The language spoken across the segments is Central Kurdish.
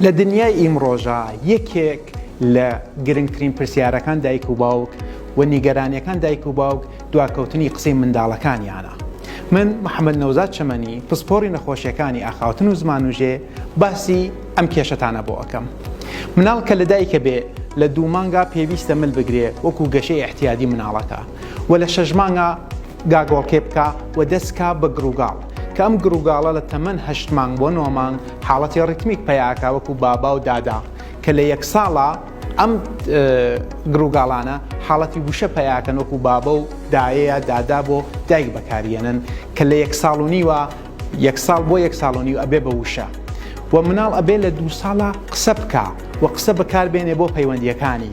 لە دنیای ئیمڕۆژا یەکێک لە گرنگترین پرسیارەکان دایک و باوک و نیگەرانیەکان دایک و باوک دواکەوتنی قسەی منداڵەکانیانە. من محەممەد نەوزاد چەمەنی پسپۆڕی نەخۆشیەکانی ئاخاوتن و زمانوژێ باسی ئەم کێشەتانە بۆ ئەکەم. مناڵ کە لە دایکە بێ لە دوو مانگا پێویستە مل بگرێ وەکو گەشەی ئەحتیادی مناڵەکە و لە شەش مانگا گاگۆڵکێ بکە و دەست کا بە گڕوگاڵ کە ئەم گڕوگاڵە لە تەمەن هەشت مانگ بۆ نۆ مانگ حاڵەتی ڕیتمیک پەیا ئەکا وەکوو بابا و دادا کە لە یەک ساڵا ئەم گڕوگاڵانە حاڵەتی وشە پەیا ئەکەن وەکوو بابە و دایەیە دادا بۆ دایک بەکاری ئەنن کە لە یەک ساڵ و نیوە یەک ساڵ بۆ یەک ساڵ و نیو ئەبێ بە وشە و مناڵ ئەبێ لە دوو ساڵا قسە بکا و قسە بەکار بێنێ بۆ پەیوەندییەکانی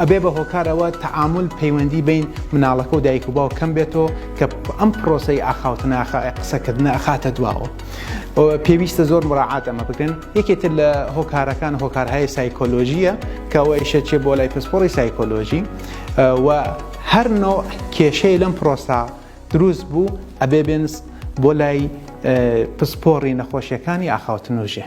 ئەبێ بە هۆکار ئەوە تەعامل پەیوەندی بین مناڵەکە و دایک و باو کەم بێتەوە کە ئەم پرۆسی ئاخاوتناخە قسەکردنە ئەخاتە دواوە. پێویستە زۆر مراعات ئەمە بکەن یەکێتر لە هۆکارەکان هۆکارهای سایکۆلۆژیە کەەوە ئیشە چێ بۆ لای پسپۆڕی سایکۆلۆژی و هەر نۆ کێشەی لەم پرۆستا دروست بوو ئەبێ بێنس بۆ لای پسپۆڕی نەخۆشیەکانی ئاخاوتنۆژێ.